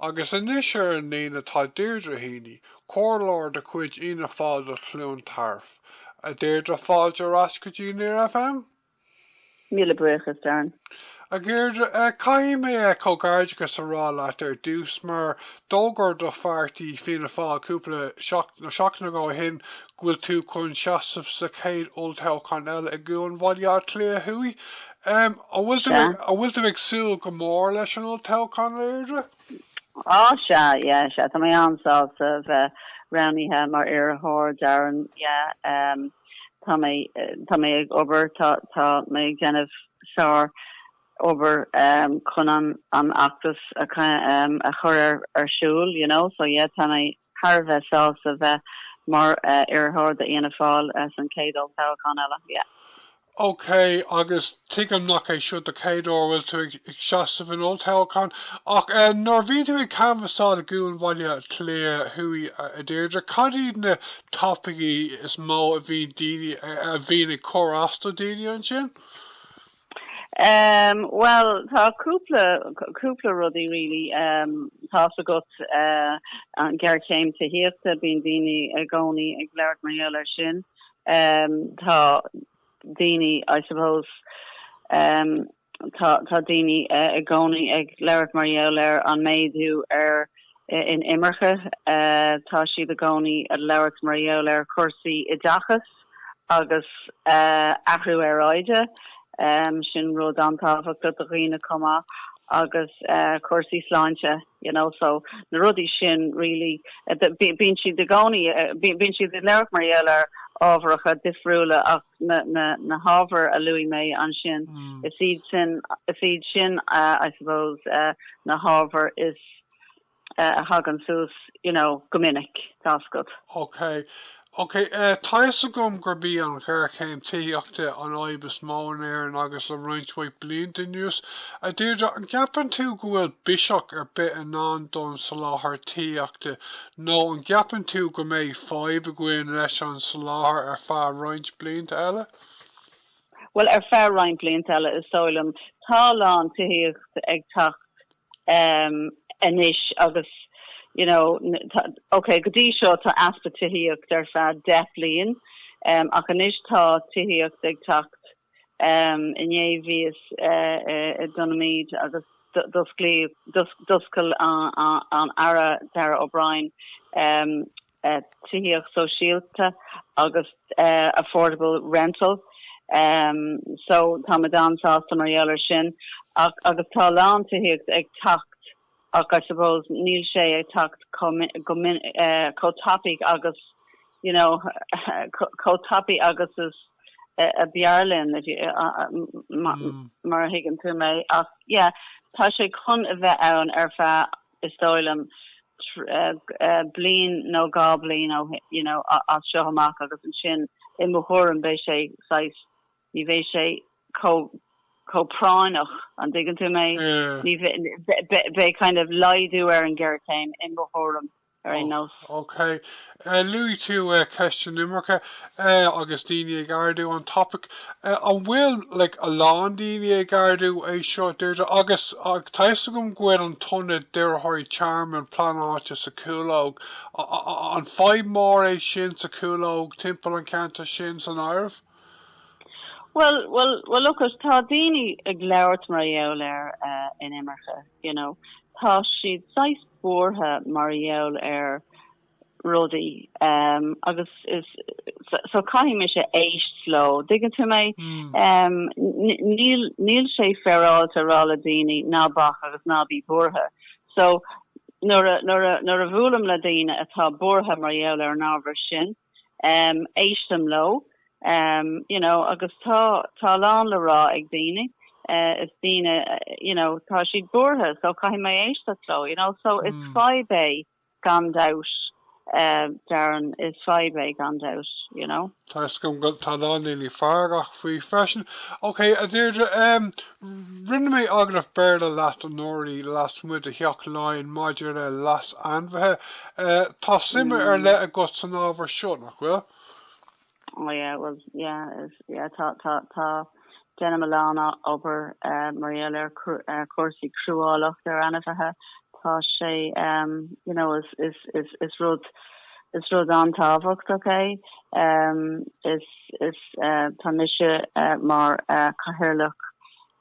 Agus anois ar an líne atá Deirdre Heaney, comhairleoir de chuid Fhianna Fáil do Chluain Tarbh. A Deirdre, fáilte ar ais go dtí Near FM. Míle buíochas, Darren. A Dheirdre, caithfidh mé comhgairdeachas a rá leat ar dtús mar d'fhógair do pháirtí Fianna Fáil cúpla seachtaine ó shin go bhfuil tú chun seasamh sa chéad olltoghchán eile i gCuan Bhaile Átha Cliath Thuaidh An bhfuil tú, an bhfuil tú ag súil go mór leis an olltoghchán a Dheirdre? Á, sea, yeah, sea, tá mé an-sásta a bheith roghnaithe mar iarrthóir, Darren, yeah. Tá mé, tá mé ag obair, tá, tá mé ag déanamh sár obair chun an, an fheachtas a chur ar, ar siúl, you know, so yeah, tá mé, thar a bheith sásta bheith mar iarrthóir do Fhianna Fáil san chéad olltoghchán eile. OK, agus tuigim nach é seo do chéad uair a bhfuil tú ag seasamh in olltoghchán, ach nuair a bhíonn tú ag canbhasáil i gCuan Bhaile Átha Cliath Thuaidh, a Deirdre, cad iad na topaicí is mó a bhíonn daoine, a bhíonn ag cur as do dhaoine ansin? Ehm bhuel tá cúpla cúpla rudaí really ehm tá's agat eh an ghéarchéim tithíochta bíonn daoine i gcónaí ag labhairt mar gheall air sin ehm tá daoine I suppose ehm tá tá daoine eh i gcónaí ag labhairt mar gheall ar an méadú ar in imirce eh tá siad i gcónaí ag labhairt mar gheall ar chúrsaí oideachais. agus athrú aeráide, sin rud an-tábhachtach do dhaoine chomh maith agus cúrsaí sláinte, you know, so na rudaí sin really, bíonn siad i gcónaí, bíonn siad ag labhairt mar gheall ar ábharacha difriúla ach na hábhair a luaigh mé ansin, is iad sin, is iad sin, I suppose, na hábhair is a thagann suas you know go minic. tá's agat. Ok, ok, eh tá fhios agam gurb í an ghéarchéim tithíochta an fhadhb is mó in Éirinn le roinnt mhaith blianta anuas. A Deirdre, an gceapann tú go bhfuil biseach ar bith i ndán don soláthar tithíochta nó an gceapann tú go mbeidh fadhb againn leis an soláthar ar feadh roinnt blianta eile? Bhuel, ar feadh roinnt blianta eile is dóigh liom. Tá a lán tithíocht ag teacht anois agus you know tá ok go dtí seo tá easpa tithíocht ar feadh deich bliain ach anois tá tithíocht ag teacht inné bhíos i nDomhnach Míde agus d'osclaíodh d'oscail an Aire Darragh O'Brien tithíocht shóisialta agus affordable rental so táimid an-sásta mar gheall air sin agus tá a lán tithíocht ag teacht ach I suppose níl sé ag teacht chomh tapaidh agus you know chomh tapaidh agus is ab fhearr linn mar a thuigeann tú mé ach yeah tá sé chun a bheith ann ar feadh is dóigh liom, bliain nó dhá bhliain ó shin, you know, as seo amach agus ansin i mo thuairim beidh sé saghas, ní bheidh sé chomh, chomh práinneach, an dtuigeann tú mé? Ní bheidh, beidh kind of laghdú ar an ghéarchéim i mo thuairim ar aon nós. Okay. Luaigh tú ceist an imirce agus daoine ag ardú an topaic. An bhfuil like a lán daoine ag ardú é seo, Deirdre? Agus tá fhios agam go bhfuil an t-ionad d'iarrthóirí tearmainn pleanáilte sa Chúlóg. An fhadhb mhór é sin sa Chúlóg, timpeall an cheantair sin san áireamh? Bhuel, bhuel, bhuel look it, tá daoine ag labhairt mar gheall ar an imirce, you know. Tá siad saghas buartha mar gheall ar rudaí agus is so caithfidh mise éist leo, dtuigeann tú mé? Níl sé féaráilte a rá le daoine ná bac agus ná bí buartha. So nuair a bhuailim le daoine atá buartha mar gheall ar an ábhar sin, éistim leo, you know, agus tá a lán le rá ag daoine, is daoine, you know, tá siad buartha so caithfidh mé éist leo, you know, so is fadhb é gan dabht, Darren, is fadhb é gan dabht, you know. Tá 'fhios agam go, tá a lán daoine feargach faoi freisin. Ok a Dheirdre, em, rinne mé agallamh Béarla leat anuraidh lasmuigh de Theach Laighean maidir le leas ainmhithe. Eh, tá suim ar leith agat san ábhar seo, nach bhfuil? Oh yeah, well yeah, tá, tá, tá, déanaim a lán obair mar gheall ar cúrsaí cruálacht ar ainmhithe. Tá sé, ehm, you know, is, is, is, is rud, is rud an-tábhachtach, okay. Ehm, is, is, eh, tá mise mar cathaoirleach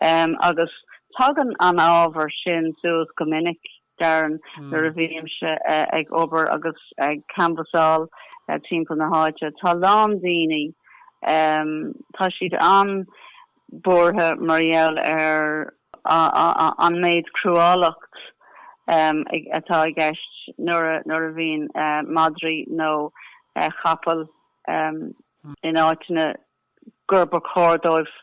agus tagann an ábhar sin suas go minic, Darren, nuair a bhímse ag obair agus ag canbhasáil timpeall na háite. Tá a lán daoine, tá siad an-bhuartha mar gheall ar an méid cruálacht atá i gceist nuair a bhíonn madraí nó chapaill in áiteanna, gur chóir dóibh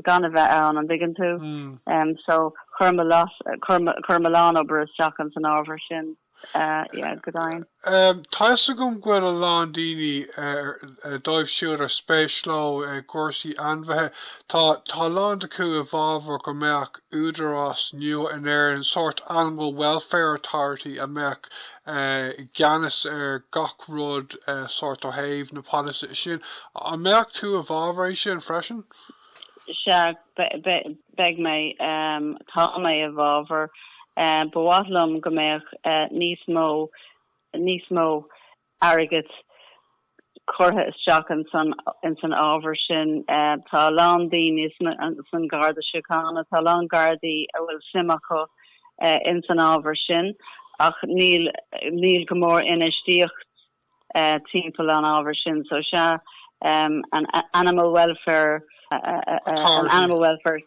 gan a bheith ann, an dtuigeann tú? So chuir mé a lán obair isteach in san ábhar sin, yeah, go deimhin. Tá 'fhios agam go bhfuil a lán daoine, dóibh siúd ar spéis leo cúrsaí ainmhithe, tá a lán acu i bhfabhar go mbeadh údarás nua in Éirinn, sórt animal welfare authority a mbeadh i gceannas ar gach rud sórt ó thaobh na policy sin. An mbeadh tú i bhfabhar sin freisin? Sea, beidh mé, tá mé i bhfabhar. Ba mhaith liom go mbeadh níos mó, níos mó airgid curtha isteach ins an ábhar sin. Tá a lán daoine san Garda Síochána, tá a lán Gardaí a bhfuil suim acu ins an ábhar sin ach níl go mór infheistíocht timpeall an ábhar sin so sea an Animal Welfare Authority.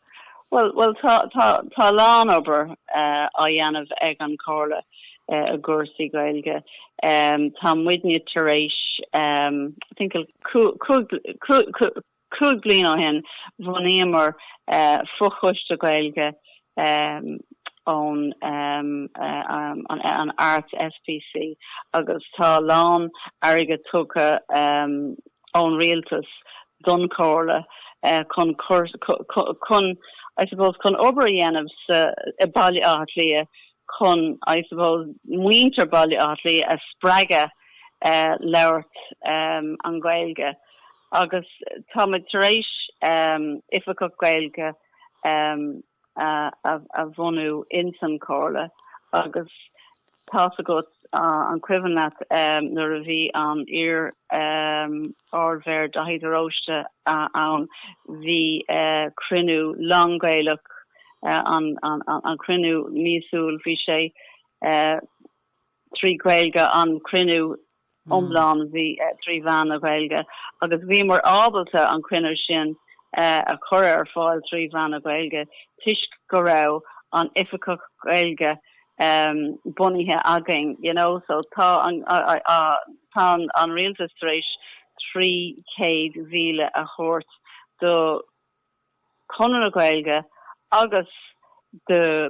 Bhuel, bhuel, tá, tá, tá a lán obair á dhéanamh ag an Comhairle i gcúrsaí Gaeilge. Tá muidne tar éis, I think it was cúig bliain ó shin, bhunaíomar fochoiste Gaeilge ón an Arts SPC agus tá a lán airgead tugtha ón Rialtas don Chomhairle chun chun I suppose chun obair a dhéanamh sa i Baile Átha Cliath chun I suppose muintir Baile Átha Cliath a spreagadh labhairt an Gaeilge agus táimid tar éis Oifigeach Gaeilge a a bhunú ins an Chomhairle agus tá's agat, an cuimhin leat nuair a bhí an iar Ardmhéara Daithí de Róiste ann, bhí cruinniú lán-Ghaelach, an cruinniú míosúil, bhí sé. trí Gaeilge an cruinniú iomlán bhí trí mheán na Gaeilge agus bhíomar ábalta an cruinniú sin a chur ar fáil trí mheán na Gaeilge toisc go raibh an Oifigeach Gaeilge bunaithe againn you know so tá an tá an Rialtas tar éis 300,000 a thabhairt do Chonradh na Gaeilge agus do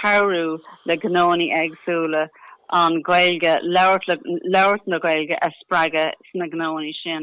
cabhrú le gnónaí éagsúla an Gaeilge labhairt le labhairt na Gaeilge a spreagadh sna gnónaí sin.